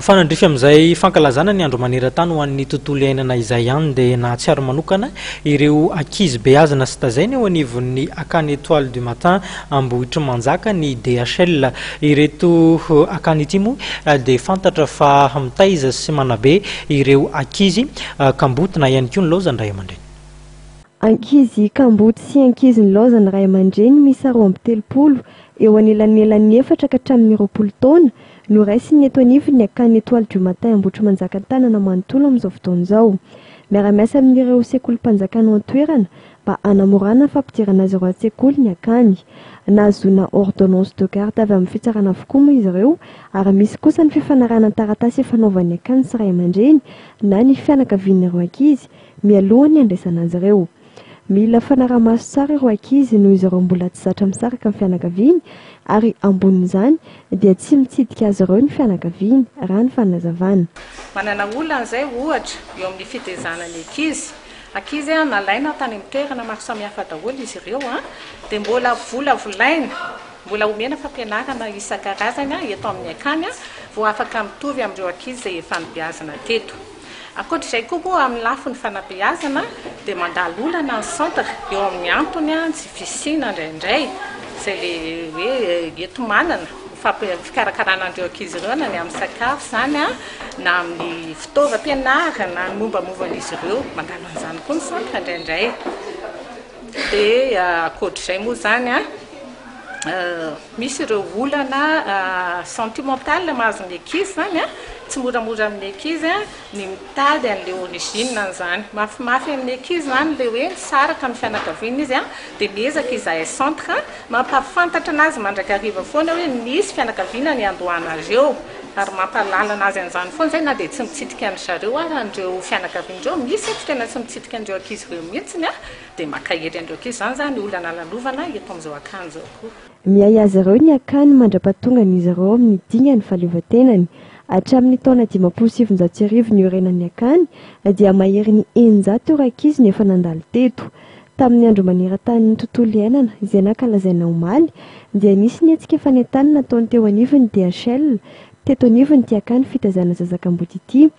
Mifanandrify amin'izay fankalazana ny Andro maneran-tany ho an'ny tontolo iainana izay ihany dia nahatsiaro manokana ireo ankizy beazina sy tazaina eo anivon'ny Akany Etoile du Matin Ambohitrimanjaka ny DHL. Ireto akany ity moa dia fantatra fa mitaiza sy manabe ireo ankizy kamboty na ihany koa nilaozan'ny ray aman-dreny. Ankizy kamboty sy ankizy nilaozan'ny ray aman-dreny miisa roa amby telopolo eo anelanelan'ny efatra ka hatramin'ny roapolo taona Noraisiny eto anivon'ny ny akany Etoile du Matin Ambohitrimanjaka an-tanana manontolo amin'izao fotoana izao. Miara-miasa amin'ireo sekolim-panjakana ao an-toerana mba hanamorana ny fampidirana azy ireo an-tsekoly ny akany. Nahazoana ordonnance de garde avy amin'ny fitsarana avokoa moa izy ireo ary misy kosa ny fifanarahana taratasy ifanaovan'ny akany sy ray aman-dreny na ny fianakavian'ireo ankizy mialohan'ny handraisana azy ireo Mila fanaramaso tsara ireo ankizy noho izy ireo mbola tsy zatra misaraka amin'ny fianakaviany ary ambonin'izany dia tsy mitsidika azy ireo ny fianakaviany, raha ny fanazavana. Manana olana izay, ohatra, eo amin'ny fitezana ny ankizy. Ankizy nalaina tany amin'ny toerana maro samihafa daholo izy ireo dia mbola volavolaina, mbola omena fampianarana isan-karazany eto amin'ny akany vao afaka mitovy amin'ireo ankizy izay efa nibeazina teto. Ankoatra izay koa moa amin'ny lafiny fanabeazana dia mandalo olana ny centre eo amin'ny antony ny tsy fisiana indraindray izay le hoe eto manana ny fikarakarana an'ireo ankizy ireo na ny amin'ny sakafo izany an, na amin'ny fitaovam-pianarana, ny mombamovan'izy ireo, mandalo an'izany koa ny centre indraindray dia ankoatra izay moa izany an. Misy ireo olana sentimental mahazo ny ankizy izany an, tsy moramora amin'ny ankizy ny mitady an'ilay origine an'izany. Mafimafy amin'ny ankizy izany ilay hoe misaraka amin'ny fianakaviana izy an, dia miezaka izahay centre mampahafantatra anazy mandrakariva foana hoe misy fianakaviana niandohanareo eo, ary mampahalala anazy an'izany foana izay na dia tsy mitsidika an-dry zareo ara an'ireo fianakaviana ireo, misy aty tena tsy mitsidika an'ireo ankizy ireo mihitsy an. Dia mankahery an'ireo ankizy izany za ny olana lalovana eto amin'izao akany izao koa. Miahy azy ireo ny akany mandra-pahatongan'izy ireo amin'ny dingany fahaleovantenany. Hatramin'ny taona dimampolo sy sivinjato sy arivo niorenan'ny akany dia mahery ny eninjato ireo ankizy no efa nandalo teto. Tamin'ny andro maneran-tanin'ny tontolo iainana izay nankalazaina omaly dia nisy ny hetsika fanentanana nataony teo anivon'ny DHL teto anivon'ity akany fitaizana zazak'amboty ity.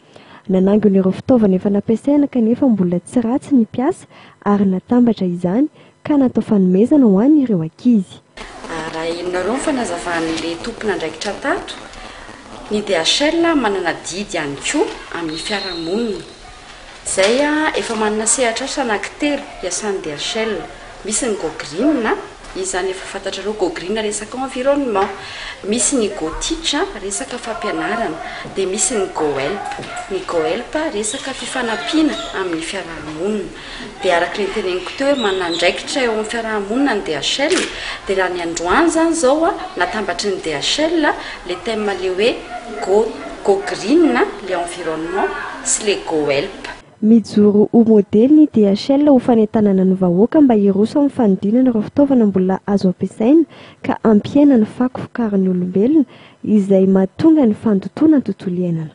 Nanangona ireo fitaovana efa nampiasaina kanefa mbola tsy ratsy ny mpiasa ary natambatra izany ka natao fanomezana ho an'ireo ankizy. Arahinareo ny fanazavan'ilay tompon'andraikitra tato. Ny DHL manana adidy ihany koa amin'ny fiarahamonina. Izay, efa manana sehatr'asa anankitelo hiasan'ny DHL. Misy ny Go Green, Izany efa fantatrareo gogriana resaka environnement. Misy ny go teach, resaka fampianarana, dia misy ny go help. Ny go help resaka fifanampiana amin'ny fiaraha-monina. Dia araka ilay noteneniko teo hoe manana andraikitra eo amin'ny fiaraha-monina ny DHL, dia raha ny androany izany izao natambatry ny DHL ilay thème ilay hoe go gogriina, ilay environnement, sy ilay go help. Mijoro ho modely ny DHL ho fanentanana ny vahoaka mba hiroso amin'ny fanodinana ireo fitaovana mbola azo ampiasaina ka hampihena ny fako vokarin'ny olombelona izay mahatonga ny fandotoana ny tontolo iainana.